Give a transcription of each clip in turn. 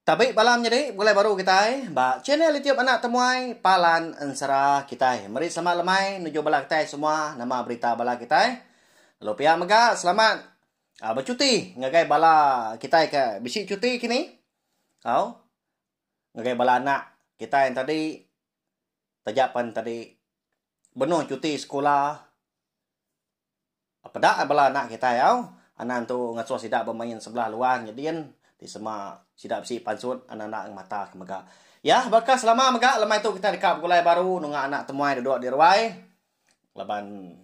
Tabi balam nyadi begulai baru kitai ba channel YouTube Anak Temuai Palan Ensera kitai. Meri selamat lemai nuju bala kitai semua nama berita bala kitai. Lalu pia mega selamat ah, becuti ngagai bala kitai ke bisi cuti kini. Au. Ngagai bala anak kitai tadi taja pen tadi benung cuti sekula Peda bala anak kitai au, anak tu ngasuh sida bemain sebelah luar nyedin ti sema sida bisi pansut anak-anak ngemata ke mega. Ya, baka selama mega lemai tu kitai deka begulai baru nunga anak temuai duduk di ruai laban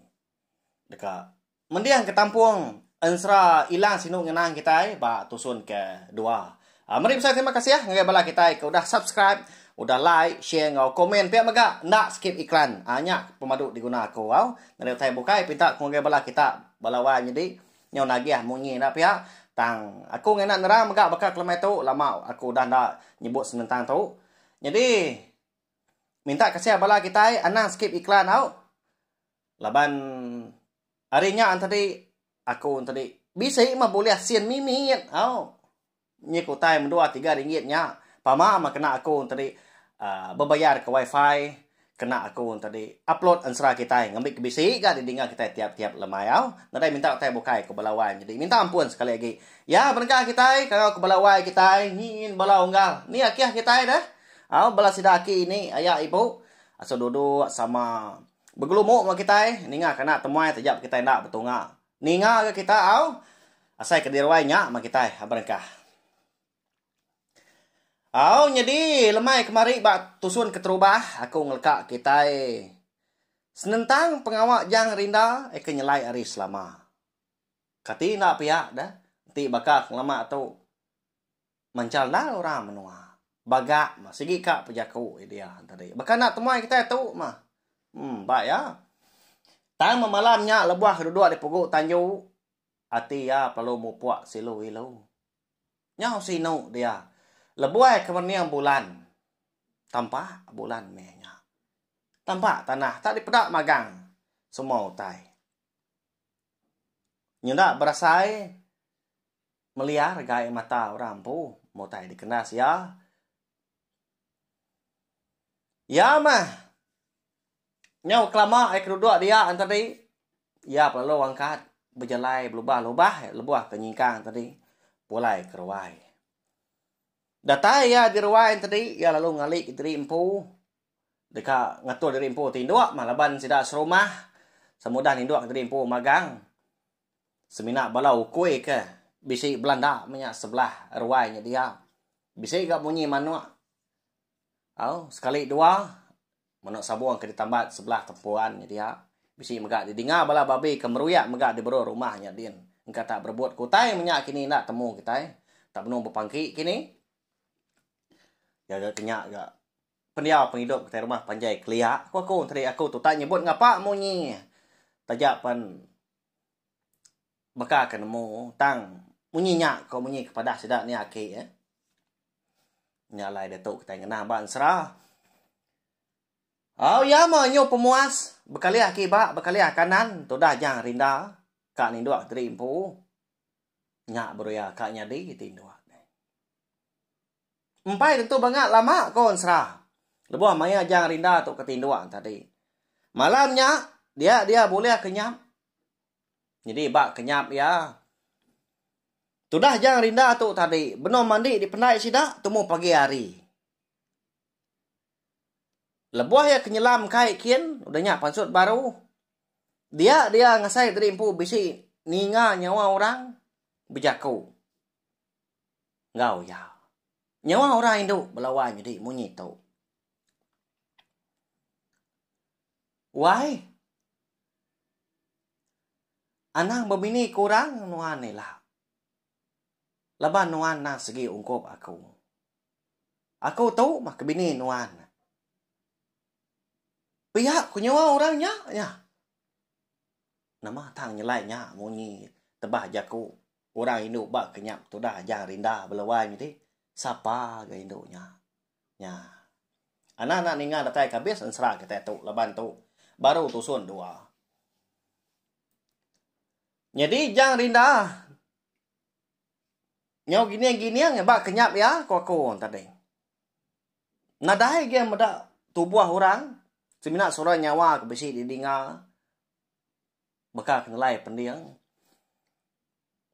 deka mendingka tampung ensera ilang sinu ngenang kitai ba tusun ke dua. A meri besai terima kasih ngagai bala kitai ke udah subscribe, udah like, share enggau komen pia mega enda skip iklan. A nya pemadu diguna aku au ngena utai bukai pinta ku ngagai bala kita bala wai nyadi nyau nagih munyi enda pia tang aku ngena nerang mega baka ke lemai tu lama aku udah enda nyebut senentang tu. Nyadi minta kasih bala kitai anang skip iklan au laban Ari nya entadi aku entadi bisi mah bulih sin mimit au nyik utai mendua tiga ringgit nya pama mah kena aku entadi aaa bebayar ka wifi kena aku entadi upload ensera kitai ngambi ke bisi ga didinga kitai tiap tiap lemai au nadai minta utai bukai ku bala wai nyadi minta ampun sekali agi ya penegah kitai kangau ku bala wai kitai nyin bala unggal ni akih kitai deh au bala sida aki ini aya ibu asu duduk sama. Begelumu enggau kitai ninga kana temuai taja ba kitai enda betunga ninga ga kita au asai ke diruai nya ma kitai berengkah. Au nyadi lemai kemari ba tusun keterubah aku ngeleka kitai senentang pengawa jang rinda ai ke nyelai ari selama. Kati enda piak deh enti baka ke ngelama tu. Manchal ndal orang menua. Bagak mah sigi ka pejaku India tadi. Baka enda temuai kitai tu mah. Em ba iya. Tang meh malam nya lebuh ke duduk di pugu tanju ati iya pelalu mupuk silu ilu. Nyau sinu dia lebuai ke mening bulan. Tampak bulan meh nya. Tampak tanah tak dipeda magang semua utai. Nyenda berasai. Meliah regai mata orang empu meh utai dikenas iya. Iya meh. Nyau kelama ai ke duduk dia enti tadi, iya pelalu angkat bejalai belubah-lubah lebuh ke nyingkang tadi pulai ke ruai. Datai iya di ruai enti tadi iya lalu ngali ke diri empu deka ngatur diri empu ti indu meh laban sida serumah sama udah nindu ke diri empu magang Semina bala ukui ke bisi belanda menya sebelah ruai nya dia. Bisi ga munyi manuk. Au, sekali dua manuk sabung ke ditambat sebelah tempuan nya dia. Bisi mega didinga bala babi ke meruyak mega di berur rumah nya din. Engka tak berebut ke utai menya kini enda temu kitai. Tak benung bepangki kini. Jaga ke nya ga. pendiau pengidup kitai rumah panjai kelia ku aku enti aku tu tak nyebut ngapa munyi taja pen baka ke nemu tang munyi nya ko munyi ke padah sida nia aki eh nya alai diatu kitai ngena ba ensera au ya meh nyu pemuas bekalih kiba bekalih kanan tudah jang rinda ka nindok diri empu nya beruya ka nyadi ti indok. Empai tentu banga lama ko ensera. Lebuh maya ajang rinda tu ke tinduk tadi. Malam nya dia dia bulih kenyap. Nyadi ba kenyap iya. Tudah ajang rinda tu tadi benung mandi dipendai sida tumu pagi hari. Lebuh iya kenyelam kai kin udah nya pansut baru. Dia dia ngasai tadi empu bisi ninga nyawa orang bejaku. enggau iya. Nyawa orang indu belawan nyadi munyi tu. Wai. Anang bebini ke orang nuan ila. Laban nuan nang segi ungkup aku. Aku tu mah ke bini nuan. Pia ku nyawa orang nya nya. Nama tang nyelai nya munyi tebah jaku. Orang indu ba kenyap tudah aja rinda bela wai mih ti. Sapa ga indu nya. Nya. Anak anak ninga datai ka bis ensera kitai tu laban tu baru tusun dua. Nyadi jang rinda. Nyau gining gining ba kenyap iya ku aku tadi. Nadai gih meda tubuh orang semina sura nyawa ku bisi di dinga. baka ke nelai pending.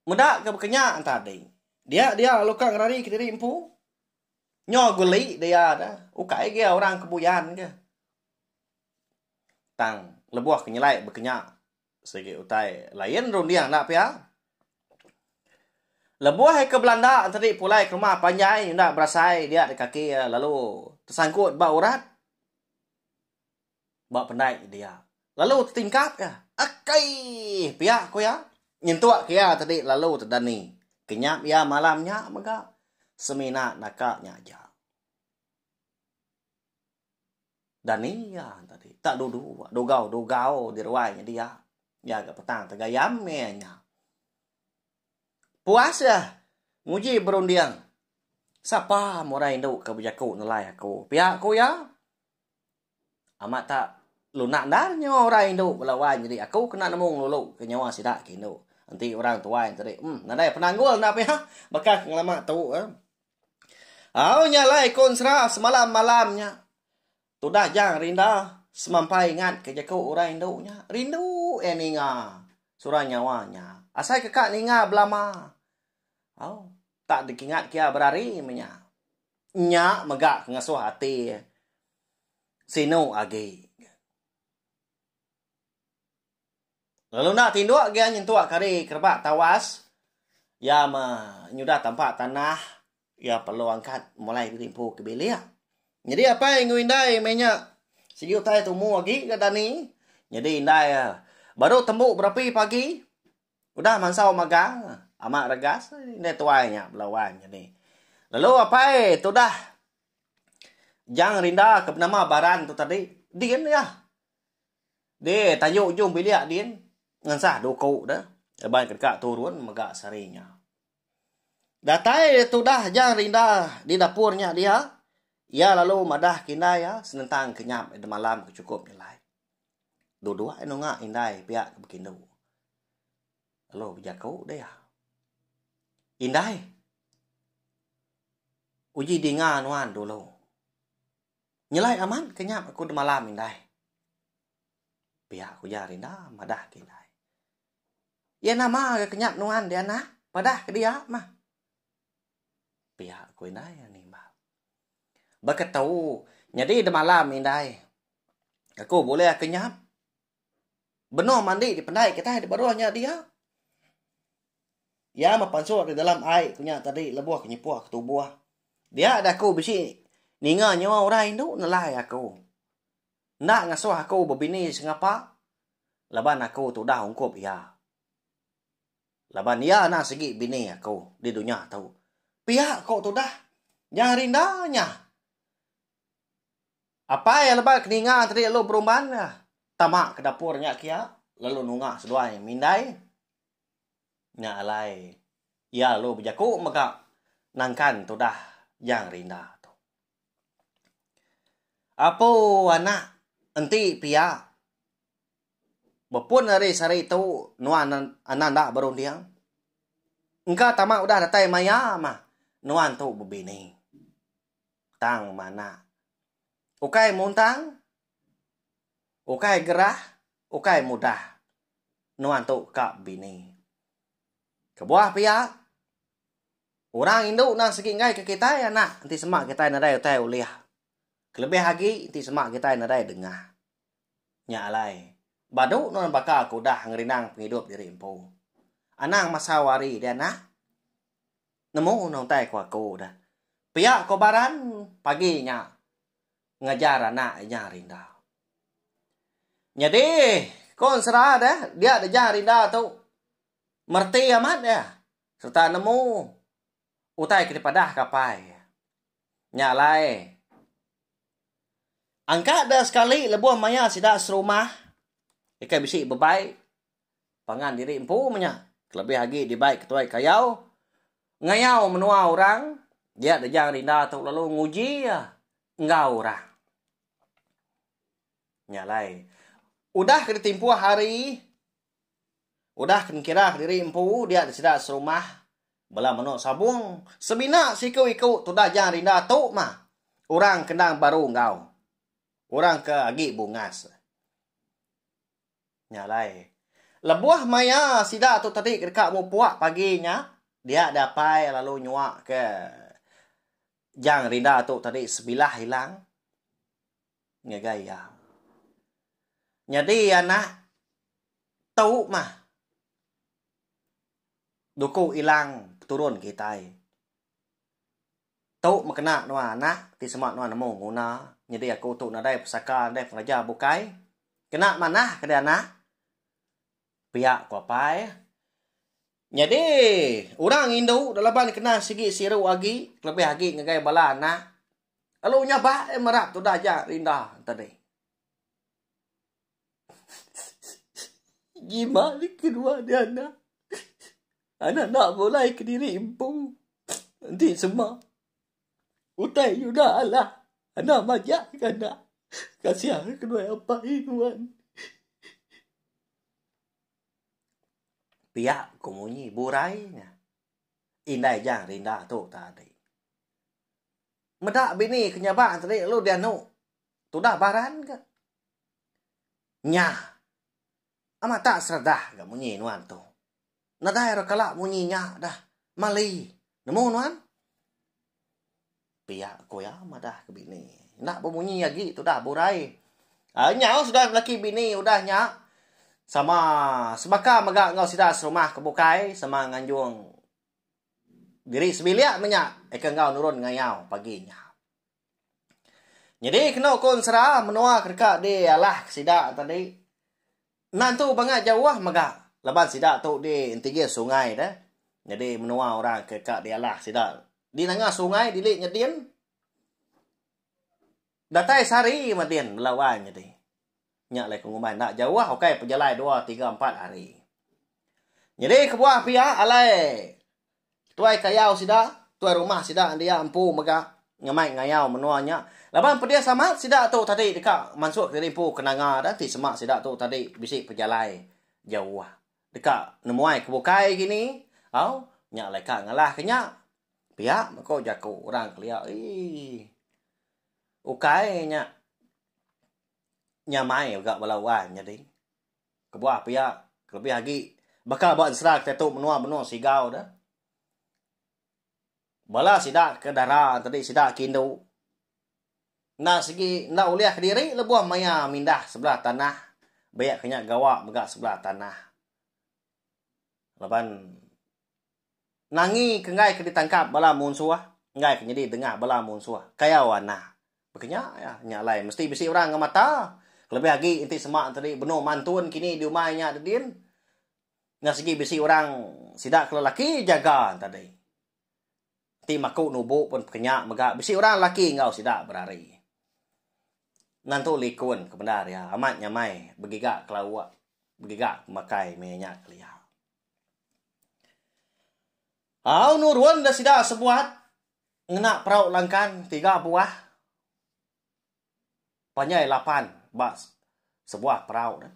Meda ke baka nya enta ding. Dia dia lalu ka ngerari kediri empu. Nyo guli dia da. Ukai agi orang ke buyan ke. Tang lebuh ke nyelai baka nya sigi utai lain runding enda pia. Lebuh iya ke belanda tadi pulai ke rumah panjai enda berasai dia di kaki iya lalu tesangkut ba urat. ba pendai dia lalu tetingkat ka akei pia ku iya nyentuk ke iya tadi lalu tedani kenyap iya malam nya mega semina naka nya aja dani iya tadi tak dudu dugau dugau di ruai nya dia iya ga petang tegayam meh nya puas iya nguji berunding sapa murai indu ke bejaku nelai aku pia ku iya. Amat tak lunak endar nyawa orang indu bala wan nyadi aku kena nemu ngelulu ke nyawa sida ke indu. Enti orang tuai tadi uhm nadai penanggul enda piha baka ke ngelama tu eh. Au nya alai ku ensera semalam malam nya tudah jang rinda semampai ingat ke jeku orang indu nya rindu eh ninga surang nyawa nya asai ke ka ninga belama au tak dikingat kia berari menya. Nya mega ke ngesuh ati Sinu agi. Lalu enda tinduk gia nyentuk kari ke rebak tawas, iya meh nyudah tampa tanah iya perlu angkat mulai ditimpu ke bilik. Nyadi apai enggau indai meh nya sigi utai tumu agi ga dani. Nyadi indai baru tembu berapi pagi. Udah mansau magang ama regas indai tuai nya bela wan nya ni. Lalu apai tudah jang rinda ke benama Baran tu tadi din iya. Di tayu ujung bilik din ngensah duku de laban ke deka turun mega sehari nya. Datai tudah jang rinda di dapur nya dia iya lalu madah ke indai iya senentang kenyap di malam ke chukup nyelai. Dua-dua iya nunga indai pia ke bekindu. Lalu bejaku deh iya. Indai. Uji dinga nuan dulu. Nyelai amat ke nyap aku demalam indai. Pia ku ujar inda madah ke indai. Iya nama ga ke nyap nuan di anak? Padah ke dia mah. Pia ku indai nimbal. Baka tu nyadi demalam indai. Aku bulih aku nyam. Benung mandi di pendai kita di baruh nya dia. Ia mepansur di dalam ai kunya tadi lebuh kenyepuh ke tubuh. Dia ada aku bisi ninga nyawa orang indu nelai aku. Enda ngasuh aku bebini sengapa laban aku tudah ungkup ia. Laban ia nang sigi bini aku di dunya tu. Pia ko tudah nyang rinda nya. Apai lebai ke ninga tadi lalu beruman tama ke dapur nya kiya lalu nunga seduai mindai nya alai iya lalu bejaku mega nangkan tudah Yang Rinda tu. Apo anak enti piya bepun ari sehari tu nuan anak enda berunding engka tama udah datai maya mah nuan tu bebini. tang mana. Ukai muntang, ukai gerah, ukai mudah nuan tu ka bini. Kebuah pia, orang indu endang sigi enggaika kitai anak enti sema kitai nadai utai ulih. Kelebih agi enti sema kitai nadai dengah. Nya alai, badu nuan baka ke udah ngerindang pengidup diri empu. Anang masau ari deh anak. nemu ne utai ko aku da. Pia ko Baran pagi nya ngajar anak inya rinda. Nyadi ko ensera da dia dejah rinda tu mereti amat iya serta nemu utai ke dipadah ka apai iya. Nya alai angka da sekali lebuh maya sida serumah deka bisi bebai pangan diri empu menya kelebih agi dibai ketuai kayau ngayau menua orang dia dejang rinda tu lalu nguji iya enggau orang. Nya alai udah ke ditimpuh hari udah ke dikira diri empu dia disida serumah bala menu sabung semina seiku-iku tudah jang rinda tu mah orang kendang baru enggau orang ke agi bungas. Nya alai. Lebuh maya sida tu tadi ke deka mupuk pagi nya, dia deh apai lalu nyuaka Jang Rinda tu tadi sebilah ilang ngagai iya. Nyadi anak tu mah duku ilang peturun kitai. Tu mekena nuan anak ti sema nuan nemu guna nyadi aku tu nadai pesaka nadai pengereja bukai kena manah ke dianak pia ku apai nyadi orang indu dak laban kena sigi siru agi kelebih agi ngagai bala anak lalu nyabak eh mera tudah aja enda tadi. Ngima di kedua di anak. Anak nak bulai kediri empu. Enti sema. Utai nyuda alah. Anak majak ke anak. Kasiah ke kedua apai nuan. Pia ku munyi burai nya. Indai jang rinda tu tadi. Meda bini ke nyabak tadi lalu dianu. tudah baran ga. Nya. Amat tak seredah ga munyi nuan tu. Nadai ra kala munyi nya dah. Mali. Nemu nuan? Pia ku iya madah ke bini. Enda bemunyi agi tudah burai. Ah, nyau sudah laki bini udah nya. Sama sebaka mega enggau sida serumah ke bukai sama nganjung diri sebilik menya eka enggau nurun ngayau pagi nya. Nyadi kenu ku ensera menua ke deka dialahka sida tadi endang tu banga jauh mega laban sida tu di entinggir sungai deh. Nyadi menua orang ke ka dialah sida di nanga sungai dili nyedin datai sehari madin bela wang nyadi. Nya alai ku ngumbai enda jauh ukai pejalai dua tiga empat hari. Nyadi kebuah pia alai tuai kayau sida, tuai rumah sida dia empu mega ngemai ngayau menua nya laban pedis amat sida tu tadi deka mansuh kediri empu ke Nanga dah enti sema sida tu tadi bisi pejalai jauh deka nemuai ke bukai agi ni au nya alai ka ngalah ke nya pia ko jaku orang kelia ii ukai nya. nyamai mega bala wai nyadi. Kebuah pia, kelebih agi baka ba ensera kitai tu menua-menua Sigau tu, bala sida ke dara tadi sida ke indu enda sigi enda ulih kediri lebuh maya mindah sebelah tanah, baya ke nya gawa mega sebelah tanah. Laban nangi ke enggai ke ditangkap bala munsuh enggai ke nyadi dengah bala munsuh kayau anah. Baka nya iya, nya alai mesti bisi orang enggau mata kelebih agi enti sema tadi benung mantun kini di umai nya da din. Nya sigi bisi orang sida ke lelaki jaga tadi. ti maku nubu pun pekenya mega bisi orang lelaki enggau sida berari. Nan tu likun ke bendar iya amat nyamai begiga kelawa begiga pemakai meh nya kelia. Au nurun da sida sebuat ngena perau langkan tiga buah panjai lapan ba sebuah perau ne.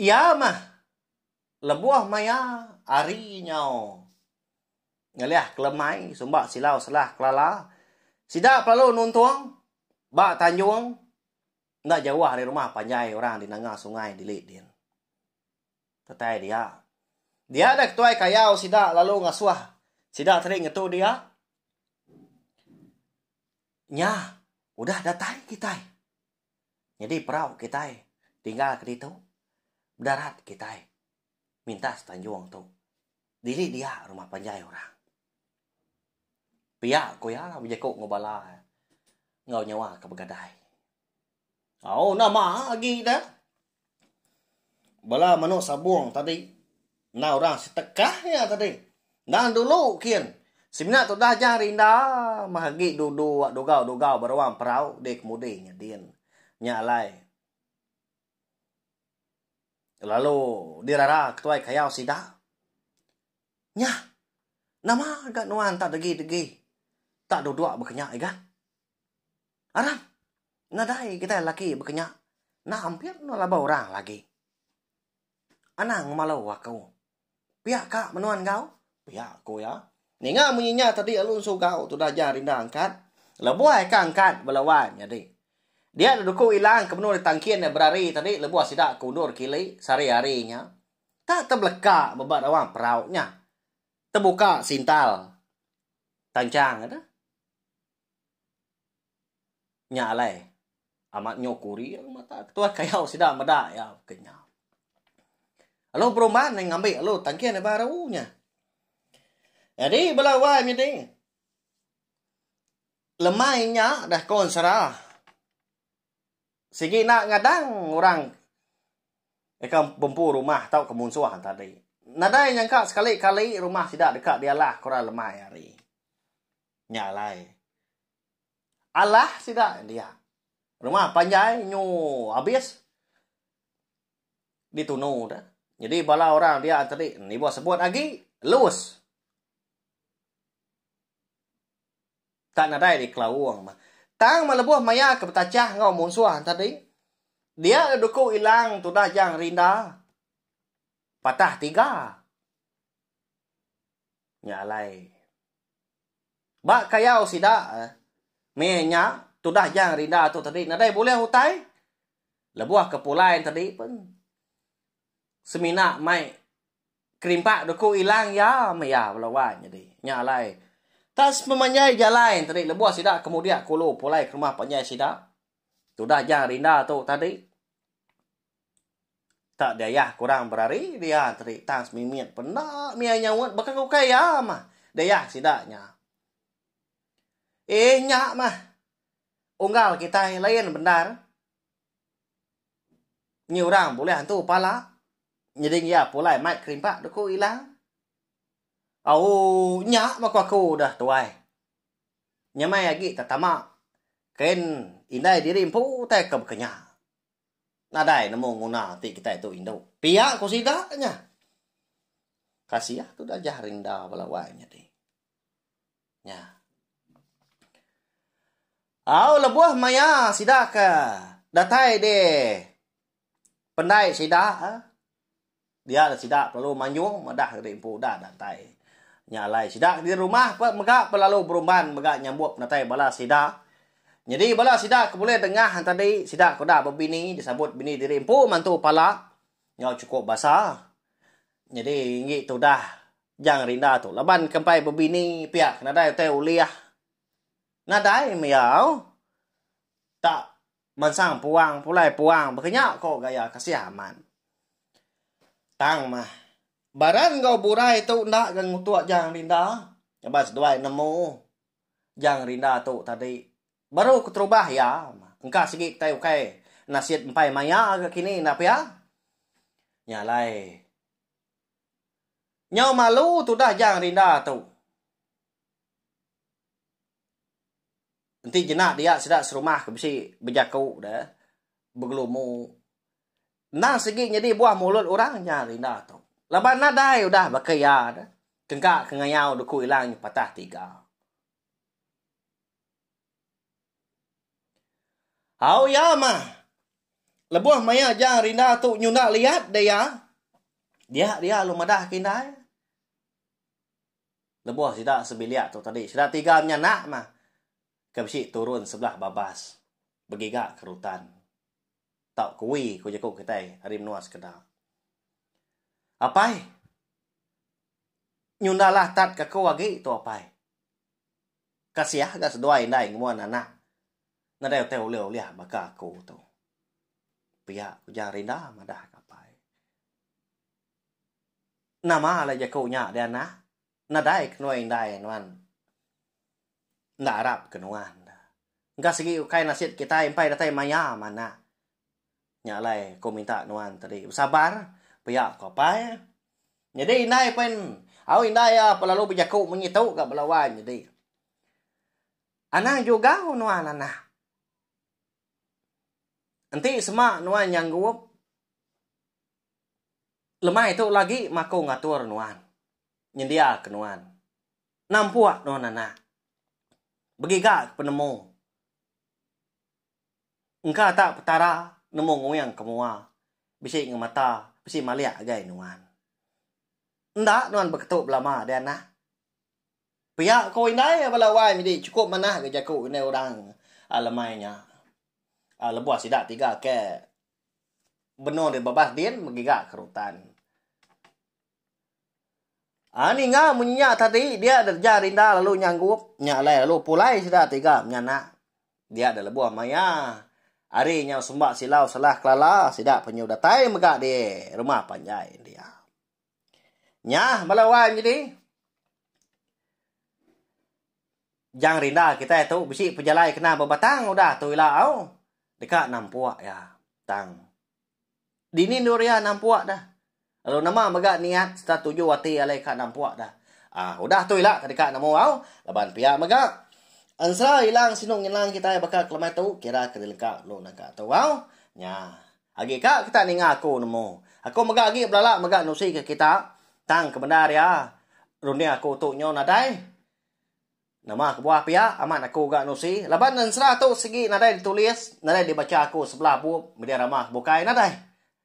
Iya mah Lebuh maya ari nyau ngelih kelemai sumba silau selah Kelala, sida pelalu nuntung ba tanjung enda jauh ari rumah panjai orang di nanga sungai dili din. Tetai dia. Dia deh ketuai kayau sida lalu ngasuh sida tadi ngetu dia. Nya udah datai kitai. Nyadi perau kitai tinggal ke ditu, bedarat kitai mintas tanjung tu. Dili dia rumah panjai orang. Pia ku iya bejaku enggau bala enggau nyawa ke begadai. Au nama agi da Bala menu sabong tadi enda orang setekah iya tadi enda dulu kin semina tudah jah ari enda mah agi dudu wak dugau-dugau ba ruang perau dek kemudi nyadin nya alai lalu dirara ketuai kayau sida nyah nama ga nuan tak degi-degi tak dudok ba kenya igat. Arang. Nadai kitai laki bekenya enda ampit endur laban orang lagi. Anang ngemalu aku. Pia ka menua enggau? Pia ku iya. Ninga munyi nya tadi lalu ensugau tudah ja rinda angkat. Lebuh ka angkat bala wan nyadi. Dia da duku ilang ke menua ditangkin iya berari tadi lebuh sida ke undur kili sehari-hari nya. Tak tebeleka ba ba rawang perau nya. Tebuka sintal tanchang eda. Nya alai amat nyo kuri mata ketuai kayau sida meda iya ke nya. Lalu perumahan deh ngambi lalu tangkin deh baru nya. Jadi bela wai nyadi lemai nya deh kon sera sigi enda ngadang orang deka bempu rumah tau ke munsuh tadi. Nadai nyangka sekali kali rumah sida deka dialah ke orang lemai ari. Nya alai. Alah sida dia. Rumah panjai nyu abis ditunu da. Nyadi bala orang dia tadi niba sebut agi lus. Tak nadai di kelaung mah. Tang mah lebuh maya ke betachah enggau munsuh tadi. Dia le duku ilang tudah jang rinda. Patah tiga. Nya alai. Ba kayau sida, meh nya tudah jang rinda tu tadi nadai bulih utai lebuh ke pulai tadi pun semina mai kerimpak duku ilang iya meh iya bala wan nyadi. Nya alai. Tak sepemanjai jalai tadi lebuh sida kemudik kulu pulai ke rumah panjai sida tudah jang rinda tu tadi. Tak diayah kurang berari, dia teri tang semimit pun enda mia nyaut baka ke ukai iya mah. Diayah sida nya. Eh nya mah. Unggal kitai lain bendar. Nyi orang bulih antu pala. Nyeding iya pulai mai kerimpak dek ku ila. Au nya mah ku aku dah tuai. Nyamai agi tetama. Kain indai diri empu utai ke baka nya. nadai nemu nguna ati kitai tu indu. Pia ku sida nya. Kasiah tu Dajah Rinda bala wai nyadi. Nya. Au lebuh maya sida ke datai di pendai sida. Dia la sida pelalu manjung madah diri empu udah datai nya alai sida di rumah pe mega pelalu berumban mega nyambut penatai bala sida. Nyadi bala sida ke bulih dengah entadi sida ke udah bebini disambut bini diri empu mantu pala enggau chukup basa. Nyadi enggi tu udah jang rinda tu laban ke empai bebini pia ke nadai utai ulih nadai meh iya au tak Mansang puang pulai puang baka nya ko gaya kasih amat. Tang mah. Baran enggau burai tu enda ga ngutuk Jang Rinda ngaban seduai nemu Jang Rinda tu tadi. Baru keterubah iya engka sigi kitai ukai nasit empai maya ga kini enda pia. Nya alai. Nyau malu tudah Jang Rinda tu. Enti jena dia sida serumah ke bisi bejaku da begelumu endang sigi nyadi buah mulut orang nya ari enda tu. Laban nadai udah baka iya da tengka ke ngayau duku ilang nya patah tiga. Au iya mah. Lebuh maya jang rinda tu nyunda liat da iya, dia dia lu madah ke indai. Lebuh sida sebilik tu tadi, sida tiga nya enda mah ke bisi turun sebelah babas begiga ke rutan tau kuwi ku jaku kitai ari menua sekeda. Apai, nyunda lah tat ke aku agi tu apai. Kasiah ga seduai indai ngemuan anak nadai utai ulih ulih baka aku tu. Pia ku Jang Rinda madah ka apai. Nama alai jaku nya Dianah? Nadai ke nuan indai nuan enda arap ke nuan. Engka sigi ukai nasit kitai empai datai maya manah. Nya alai aku minta nuan tadi besabar pia ku apai. Nyadi indai pen au indai iya belalu bejaku munyi tu gak bala wai nyadi. Anang jugau nuan anah. Enti sema nuan nyanggup. Lemai tu lagi maku ngatur nuan, nyendiaka nuan, nampuk nuan anak, begiga ke penemu. Engka tak Petara nemu nguing ke mua bisi ngemata, bisi malik agai nuan. Enda nuan beketu belama deh anak. Pia ko indai bala wai medi chukup manah ga jaku indai orang lemai nya. Lebuh sida tiga ke. Benung deh bebas din begiga kerutan. Ah ninga mun nya tadi dia dereja rinda lalu nyanggup nya alai lalu pulai sida tiga menyanak dia da lebuh maya hari nyau semba silau salah kelala sida penyu datai mega di rumah panjai india. Nya bala wan nyadi jang rinda kitai tu bisi pejalai kena bebatang udah tu ila au deka nampuk iya tang dini endur iya nampuk dah lalu nama mega niat serta tuju ati iya alai ka nampuk dah um udah tu ila deka nemu au laban pia mega ensera ilang sinu ngilang kitai baka kelemai tu kira ke dilengka lu naka tu au nya. Agi ka kita ninga aku nemu. Aku mega agi belala mega nusi ke kita, tang kebendar iya runding aku tu nyau nadai. Nama kebuah pia amat aku ga nusi laban ensera tu sigi nadai ditulis, nadai dibacha aku sebelah bup media rama ke bukai nadai.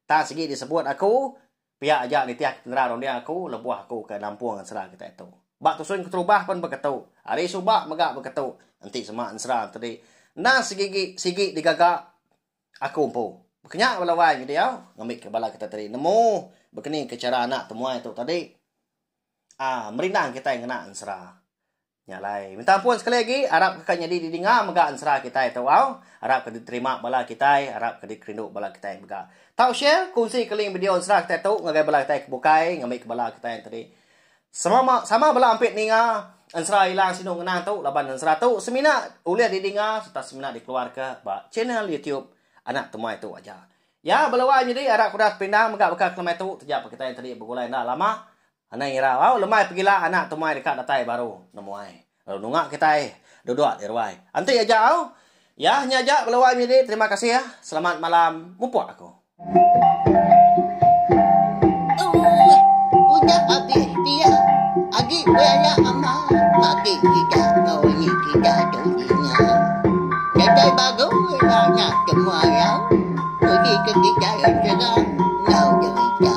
Tang sigi disebut aku pia aja nitih ke penera runding aku lebuh aku ke nampung ensera kitai tu. Ba Tusun Keterubah pun beketu. Ari suba mega beketu enti sema ensera enti enda sigi sigi digaga Aku empu. Bekenya bala wai nge diau ngambika bala kita tadi nemu bekeni ke chara anak temuai tu tadi aa merindang kitai ngena ensera. Nya alai. Minta ampun sekali agi arap ke ka nyadi didinga mega ensera kitai tu au. Arap ke diterima bala kitai, arap ke dikerindu bala kitai mega. Tau share, kongsi ke link video ensera kitai tu ngagai bala kitai ke bukai ngambika bala kitai tadi. Sama sama bela ampit ninga ensera Ilang Sinu Ngenang tu laban ensera tu semina ulih didinga sereta semina dikeluarka ba channel YouTube Anak Temai tu aja. Ya beluar nyadi arap kudas pindang mega baka ke lemai tu taja pekita yang tadi begulai enda lama. Anang irau au lemai pegila Anak Temai deka datai baru nemuai. Lalu nunga kitai duduk di ruai. Enti aja au. Yah nya aja bala wai menyadi terima kasih ah. Selamat malam mupuk aku. Ooh udah abis pia agi banyak amal mati kita tau ni kita tu dinya datai bagus ila nya semua yang uji ke kita yang terang enggau derita.